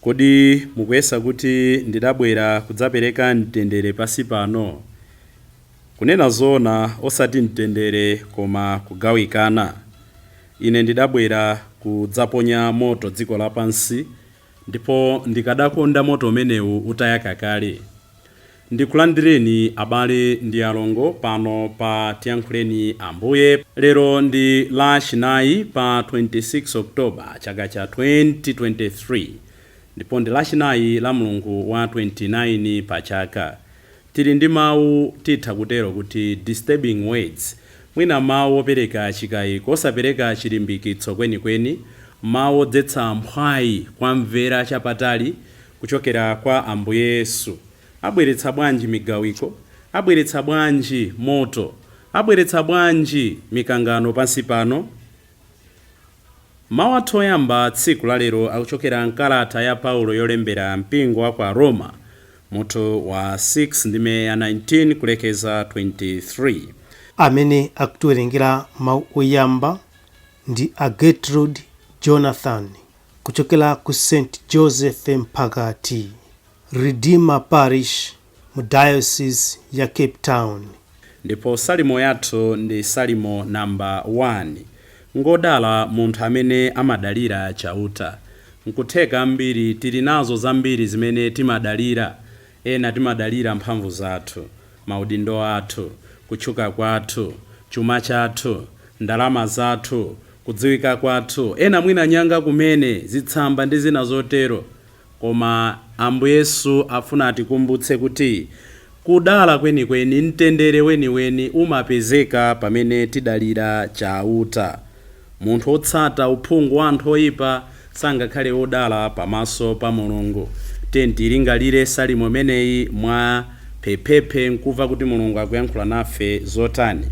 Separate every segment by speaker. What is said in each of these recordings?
Speaker 1: Kodi mukuyesa kuti ndidabwera kudzapereka mtendere pansi pano? Kunena zoona, osati mtendere koma kugawikana. Ine ndidabwera kudzaponya moto dziko lapansi, ndipo ndikadakonda moto umenewu utayaka kale. Ndikulandireni abale ndi alongo pano pa Tiyankhuleni Ambuye. Lero ndi lachinayi pa 26 October chaka cha 2023 ndipo ndi lachinayi la mlungu wa 29 pa chaka. Tili ndi mau titha kutero kuti disturbing words, mwina mau opereka chikayiko, osapereka chilimbikitso kwenikweni, mau odzetsa mphwayi kuwamvera chapatali kuchokera kwa Ambuye Yesu, abweretsa bwanji migawiko, abweretsa bwanji moto, abweretsa bwanji mikangano pansi pano? Mawu athu oyamba tsiku la lero akuchokera mkalata ya Paulo yolembera mpingo wa kwa Aroma, mutu wa 6 ndime ya 19 kulekeza 23. Amene
Speaker 2: akutiwerengera mawu oyamba ndi a Gertrude Jonathan kuchokera ku St Joseph Mphakati Redeemer Parish mu Diocese ya Cape Town. Ndipo Salimo
Speaker 1: yathu ndi Salimo number 1. Ngodala munthu amene amadalira Chauta. Nkutheka ambiri tili nazo zambiri zimene timadalira. Ena timadalira mphamvu zathu, maudindo athu, kutchuka kwathu, chuma chathu, ndalama zathu kudziwika kwathu. Ena mwina nyanga kumene, zitsamba ndi zina zotero. Koma Ambuye Yesu afuna atikumbutse kuti kudala kwenikweni, mtendere weniweni umapezeka pamene tidalira Chauta. Munthu otsata uphungu wa anthu oipa sangakhale odala pamaso pa Mulungu. Tiyeni tiilingalire salimo imeneyi mwa phephephe n'kumva kuti Mulungu akuyankhula nafe zotani.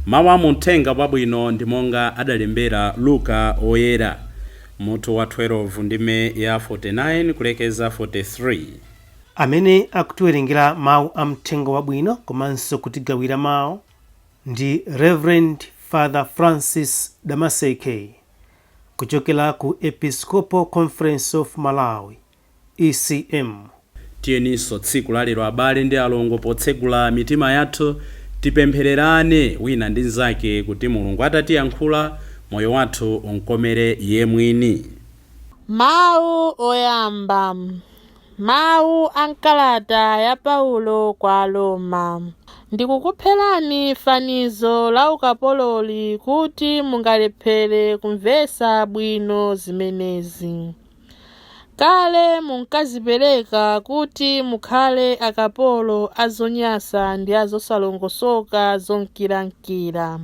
Speaker 1: Mawu a mu Mthenga Wabwino ndi monga adalembera Luka Woyera, mutu wa 12, ndime ya 49 kulekeza 43.
Speaker 2: Amene akutiwerengera Mawu a Mthenga Wabwino komanso kutigawira mawu ndi Rev. Father Francis Damaseke, Kuchokera ku Episcopal Conference of Malawi, ECM. Tiyeninso
Speaker 1: tsiku la lero abale ndi alongo potsegula mitima yathu tipemphererane wina ndi nzake kuti Mulungu atatiyankhula moyo wathu umkomere Iye mwini. Mawu
Speaker 3: oyamba Mawu a m'kalata ya Paulo kwa Aroma, Ndikukupherani fanizo la ukapololi kuti mungalephere kumvetsa bwino zimenezi. Kale munkadzipereka kuti mukhale akapolo a zonyansa ndi a zosalongosoka zonkirankira.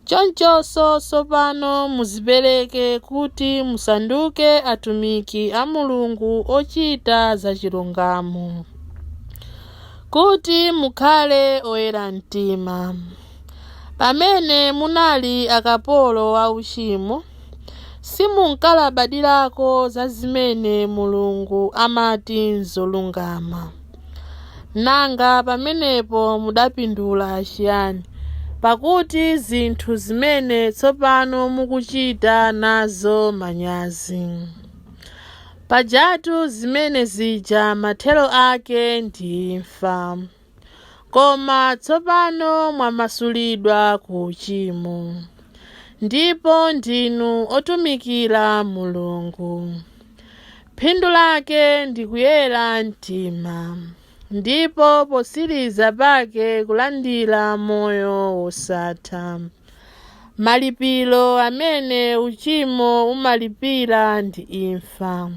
Speaker 3: Chonchonso tsopano mudzipereke kuti musanduke atumiki a Mulungu ochita zachilungamo, kuti mukhale oyera mtima. Pamene munali akapolo a uchimo, simunkalabadirako za zimene Mulungu amati n'zolungama. Nanga pamenepo mudapindula chiyani? Pakuti zinthu zimene tsopano mukuchita nazo manyazi. Pajatu zimene zija mathero ake ndi imfa. Koma tsopano mwamasulidwa ku uchimo, ndipo ndinu otumikira Mulungu. Phindu lake ndi kuyera mtima ndipo potsiriza pake kulandira moyo wosatha. Malipiro amene uchimo umalipira ndi imfa.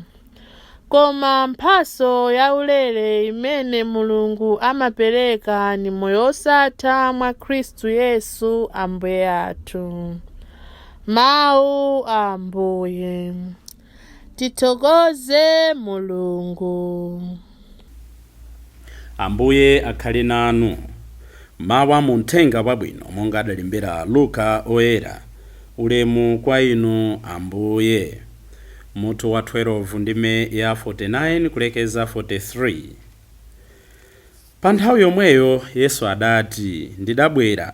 Speaker 3: Koma mphatso yaulere imene Mulungu amapereka ndi moyo wosatha mwa Khristu Yesu Ambuye athu. Mawu a Ambuye. Tithokoze
Speaker 1: Mulungu. Ambuye akhale nanu. Mawu a mu Mthenga Wabwino monga adalembera Luka Oyera. Ulemu kwa Inu, Ambuye. Mutu wa 12 ndime ya 49 kulekeza 53. Pa nthawi yomweyo Yesu adati, Ndidabwera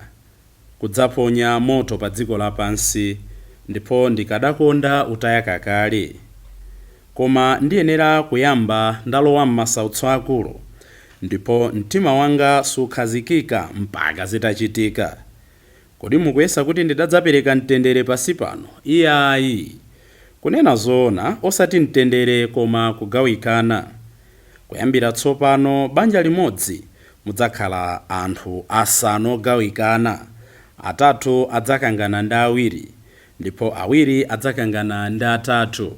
Speaker 1: kudzaponya moto padziko lapansi, ndipo ndikadakonda utayaka kale. Koma ndiyenera kuyamba ndalowa m'masautso akulu, ndipo mtima wanga sukhazikika mpaka zitachitika. Kodi mukuyesa kuti ndidadzapereka mtendere pansi pano? Iyayi! Kunena zoona, osati mtendere koma kugawikana. Kuyambira tsopano banja limodzi Mudzakhala anthu asanu ogawikana, atatu adzakangana ndi awiri, ndipo awiri adzakangana ndi atatu.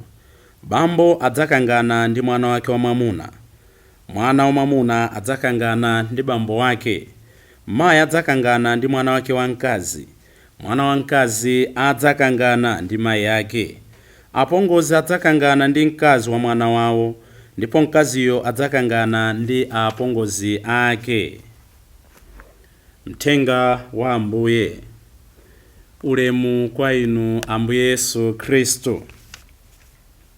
Speaker 1: Bambo adzakangana ndi mwana wake wamwamuna, mwana wamwamuna adzakangana ndi bambo wake, mayi adzakangana ndi mwana wake wamkazi, Mwana wamkazi adzakangana ndi mayi ake. Apongozi adzakangana ndi mkazi wa mwana wawo ndipo mkaziyo adzakangana ndi apongozi ake. Mthenga wa Ambuye. Ulemu kwa Inu Ambuye Yesu Khristu.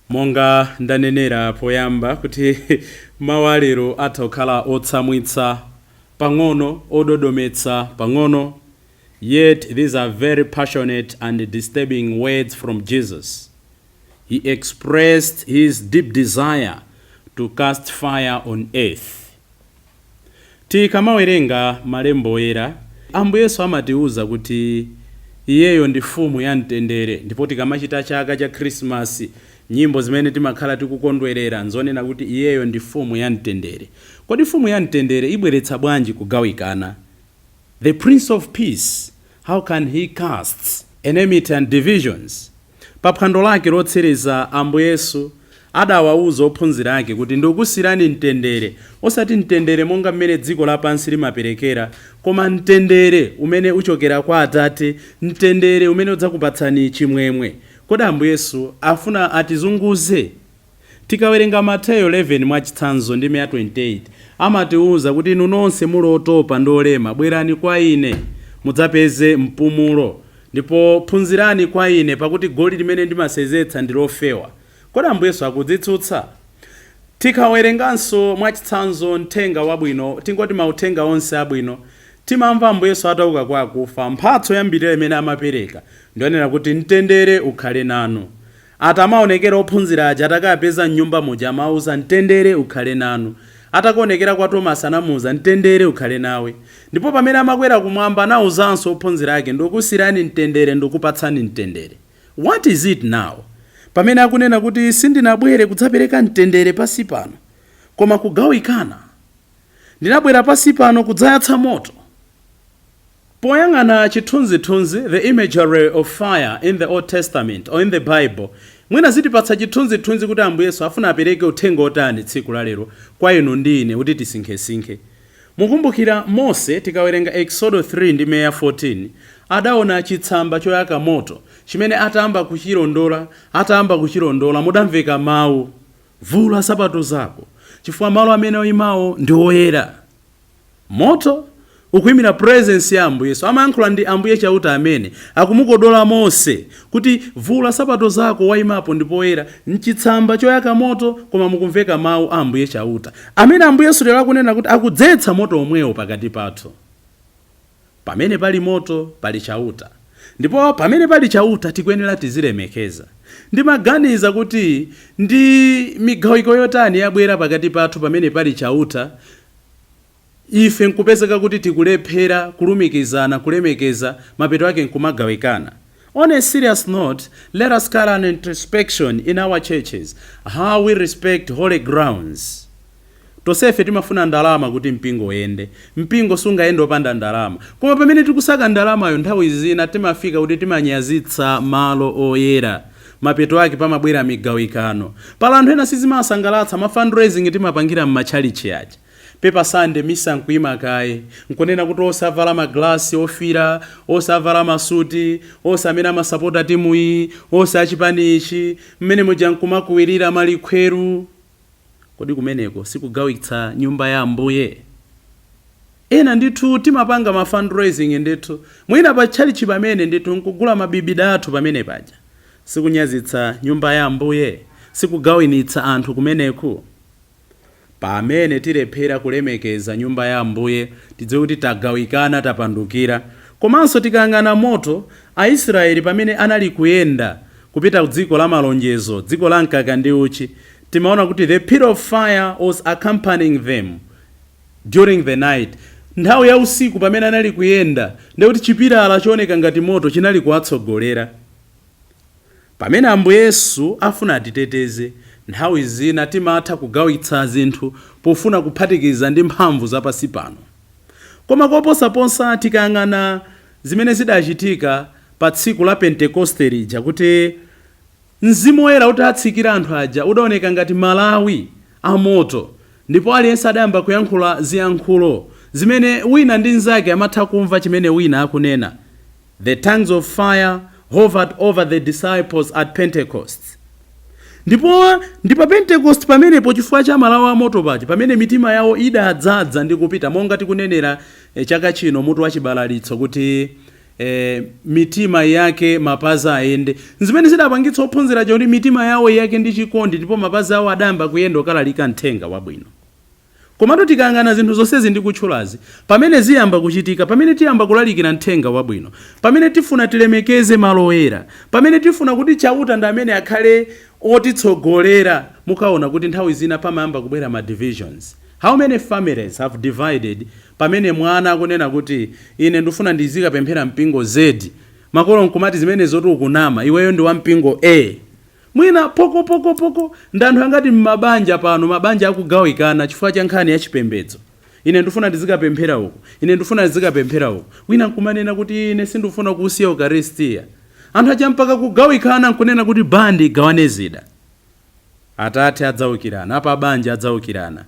Speaker 1: Monga ndanenera poyamba kuti mawu a lero atha kukhala otsamwitsa pang'ono, ododometsa pang'ono Yet these are very passionate and disturbing words from Jesus. He expressed his deep desire to cast fire on earth. Tikamawerenga malembo oyera, Ambuye Yesu amatiuza kuti iyeyo ndi Mfumu ya mtendere ndipo tikamachita chaka cha Khrisimasi, nyimbo zimene timakhala tikukondwerera n'zonena kuti iyeyo ndi Mfumu ya mtendere. Kodi Mfumu ya mtendere ibweretsa bwanji kugawikana The Prince of Peace, how can he cast enmity and divisions? Pa phwando lake lotsiriza, Ambuye Yesu adawauza ophunzira ake kuti, Ndikukusiyirani mtendere, osati mtendere monga m'mene dziko lapansi limaperekera, koma mtendere umene uchokera kwa Atate, mtendere umene udzakupatsani chimwemwe. Kodi Ambuye Yesu afuna atizunguze? Tikawerenga Mateyo 11 mwachitsanzo ndime ya 28 amatiuza kuti inu nonse muli otopa ndi olema bwerani kwa ine mudzapeze mpumulo ndipo phunzirani kwa ine pakuti goli limene ndimasenzetsa ndi lofewa. Kodi Ambuye Yesu akudzitsutsa? Tikawerenganso mwachitsanzo mthenga wabwino tingoti mauthenga onse abwino timamva Ambuye Yesu atauka kwa akufa mphatso yoyambirira imene amapereka ndi yonena kuti mtendere ukhale nanu. Atamaonekera ophunzira aja atakawapeza m'nyumba muja amawauza mtendere ukhale nanu. Atakaonekera kwa Tomasi anamuuza mtendere ukhale nawe. Ndipo pamene amakwera kumwamba anauzanso ophunzira ake ndikukusiyirani mtendere ndikupatsani mtendere. What is it now? Pamene akunena kuti sindinabwere kudzapereka mtendere pansi pano koma kugawikana? Ndinabwera pansi pano kudzayatsa moto. Poyang'ana chithunzithunzi, the imagery of fire in the Old Testament or in the Bible, mwina zitipatsa chithunzithunzi kuti Ambuye Yesu afuna apereke uthenga wotani tsiku la lero kwa inu ndi ine kuti tisinkhesinkhe. Mukumbukira Mose, tikawerenga Eksodo 3 ndime ya 14, adaona chitsamba choyaka moto, chimene atayamba kuchilondola, atayamba kuchilondola, mudamveka mau. Vula nsapato zako, chifukwa malo amene waimawo ndi oyera. Moto, ukuimira presence ya Ambuye Yesu, amayankhula ndi Ambuye Chauta amene, akumukodola Mose kuti, Vula nsapato zako, waimapo ndi poyera. M'chitsamba choyaka moto, koma mukumveka mau a Ambuye Chauta, amene Ambuye Yesu lero akunena kuti akudzetsa moto omwewo pakati pathu. Pamene pali moto pali Chauta ndipo pamene pali Chauta tikuyenera tizilemekeza. Ndimaganiza kuti ndi migawiko yotani yabwera pakati pathu pamene pali Chauta ife nkupezeka kuti tikulephera kulumikizana, kulemekeza, mapeto ake nkumagawikana. On a serious note let us carry an introspection in our churches how we respect holy grounds. Tonsefe timafuna ndalama kuti mpingo uyende. Mpingo sungayende opanda ndalama. Koma pamene tikusaka ndalamayo nthawi zina timafika kuti timanyazitsa malo oyera. Mapeto ake pamabwera migawikano. Pali anthu ena sizimawasangalatsa ma fundraising timapangira mmatchalitchi aja. Pa Paper Sunday misa nkuima kaye nkunena kuti onse avala ma glass ofira, onse avala ma suit, onse amene amasapota timu iyi, onse achipani ichi, mmene muja nkumakuwilira malikhweru. Kodi kumeneko sikugawitsa nyumba ya Ambuye? Ena ndithu timapanga ma fundraising ndithu, mwina pa tchalitchi pamene ndithu nkugula ma bibida athu pamene paja. Sikunyazitsa nyumba ya Ambuye? Sikugawinitsa anthu kumeneku? Pamene tilephera kulemekeza nyumba ya Ambuye, tidziwe kuti tagawikana, tapandukira. Komanso tikayang'ana moto, Aisraeli pamene anali kuyenda kupita kudziko la malonjezo, dziko la mkaka ndi uchi, timaona kuti the pillar of fire was accompanying them during the night. Nthawi ya usiku pamene anali kuyenda, ndiye kuti chipilala chooneka ngati moto chinali kuwatsogolera. Pamene Ambuye Yesu afuna atiteteze, nthawi zina timatha kugawitsa zinthu pofuna kuphatikiza ndi mphamvu za pansi pano. Koma koposaposa tikayang'ana zimene zidachitika pa tsiku la Pentekoste lija kuti Mzimu Woyera utatsikira anthu aja udaoneka ngati malawi amoto, ndipo aliyense adayamba kuyankhula ziyankhulo zimene wina ndi mnzake amatha kumva chimene wina akunena. The tongues of fire hovered over the disciples at Pentecost. Ndipo ndi pa Pentekosti pamenepo, chifukwa cha malawi a moto paja, pamene mitima yawo idadzadza ndi kupita, monga tikunenera chaka chino mutu wa chibalalitso kuti, e mitima iyake mapazi ayende. Nzimene zidapangitsa ophunzira aja kuti mitima yawo iyake ndi chikondi ndipo mapazi awo adayamba kuyenda kukalalika Mthenga Wabwino. Komatu tikayang'ana zinthu zonsezi ndikutchulazi, pamene ziyamba kuchitika, pamene tiyamba kulalikira Mthenga Wabwino, pamene tifuna tilemekeze malo oyera, pamene tifuna kuti Chauta ndi amene akhale otitsogolera, mukaona kuti nthawi zina pamayamba kubwera ma divisions. How many families have divided pamene mwana akunena kuti ine ndufuna ndizikapemphera mpingo Z makolo nkumati zimenezotu ukunama iweyo ndi wampingo A mwina poko poko poko ndi anthu angati mmabanja pano mabanja akugawikana chifukwa cha nkhani ya chipembedzo ine ndufuna ndizikapemphera uku ine ndufuna ndizikapemphera uku wina nkumanena kuti ine sindufuna kuusiya ukaristia anthu aja mpaka kugawikana nkunena kuti band igawane zida. Atate adzaukirana, apabanja adzaukirana.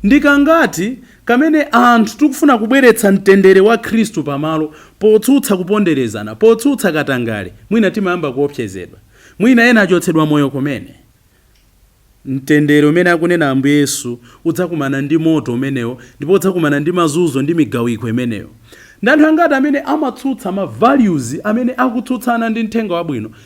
Speaker 1: Ndi kangati kamene anthu tikufuna kubweretsa mtendere wa Khristu pamalo potsutsa kuponderezana, potsutsa katangale, mwina timayamba kuopsezedwa, mwina ena achotsedwa moyo kumene. Mtendere umene akunena Ambuye Yesu udzakumana ndi moto umenewo ndipo udzakumana ndi mazunzo ndi migawiko imeneyo. Ndi anthu angati amene amatsutsa ma values amene akutsutsana ndi Mthenga Wabwino,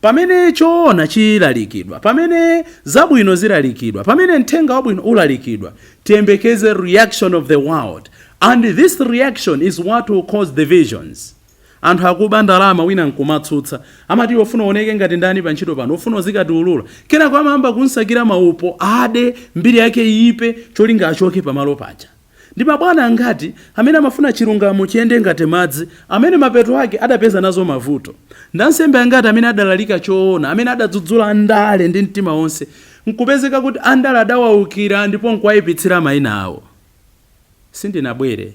Speaker 1: Pamene choona chilalikidwa, pamene zabwino zilalikidwa, pamene Mthenga Wabwino ulalikidwa, tiyembekeze reaction of the world and this reaction is what will cause divisions. Anthu akuba ndalama wina nkumatsutsa, amati iwe ufuna uoneke ngati ndani pa ntchito pano? Ufuna uzikatiulula? Kenako amayamba kumsakira ma upo, ade, mbiri yake iipe, cholinga achoke pamalo paja. Ndi mabwana angati amene amafuna chilungamo chiyende ngati madzi, amene mapeto ake adapeza nazo mavuto? Ndi ansembe angati amene adalalika choona, amene adadzudzula andale ndi mtima wonse, nkupezeka kuti andale adawaukira ndipo nkuwaipitsira maina awo? Sindinabwere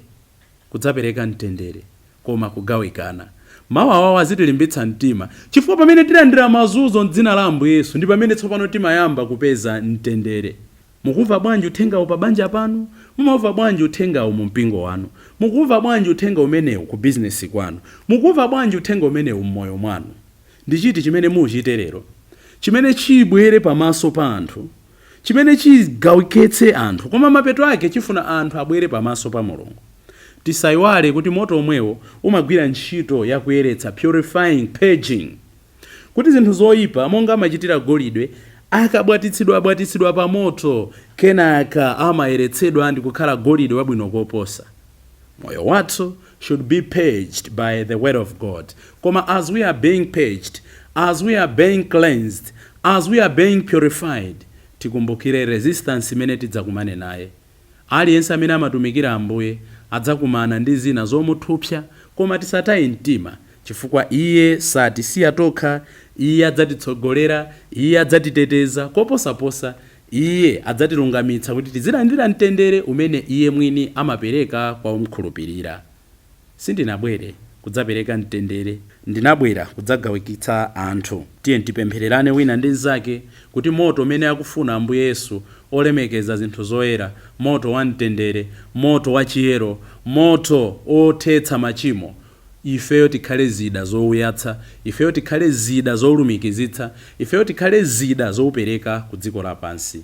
Speaker 1: kudzapereka mtendere, koma kugawikana. Mau awawo azitilimbitsa mtima, chifukwa pamene tilandira mazunzo m'dzina la Ambuye Yesu, ndi pamene tsopano timayamba kupeza mtendere. Mukumva bwanji uthengawu pa banja panu? Mumaumva bwanji uthengawu mu mpingo wanu? Mukuumva bwanji uthenga umenewu ku bizinesi kwanu? Mukuumva bwanji uthenga umenewu mmoyo mwanu? Ndi chiti chimene muuchite lero chimene chibwere pamaso pa anthu, chimene chigawikitse anthu, koma mapeto ake chifuna anthu abwere pamaso pa Mulungu? Tisaiwale kuti moto omwewo umagwira ntchito ya kuyeretsa, purifying, purging. Kuti zinthu zoipa, monga amachitira golide, akabwatitsidwabwatitsidwa pamoto, kenaka amayeretsedwa ndi kukhala golide wabwino koposa. Moyo wathu should be purged by the word of God. Koma as we are being purged, as we are being cleansed, as we are being purified, tikumbukire resistance imene tidzakumane naye. Aliyense amene amatumikira Ambuye adzakumana ndi zina zomuthupsa koma tisataye mtima chifukwa Iye satisiya tokha, Iye adzatitsogolera, Iye adzatiteteza, koposaposa, Iye adzatilungamitsa kuti tizilandira mtendere umene Iye Mwini amapereka kwa omkhulupirira. Sindinabwere kudzapereka mtendere. Ndinabwera kudzagawikitsa anthu. Tiyeni tipemphererane wina ndi mzake kuti moto umene akufuna Ambuye Yesu olemekeza zinthu zoyera, moto wa mtendere, moto wa chiyero, moto othetsa machimo, ifeyo tikhale zida zouyatsa, ifeyo tikhale zida zoulumikizitsa, ifeyo tikhale zida zoupereka ku dziko lapansi.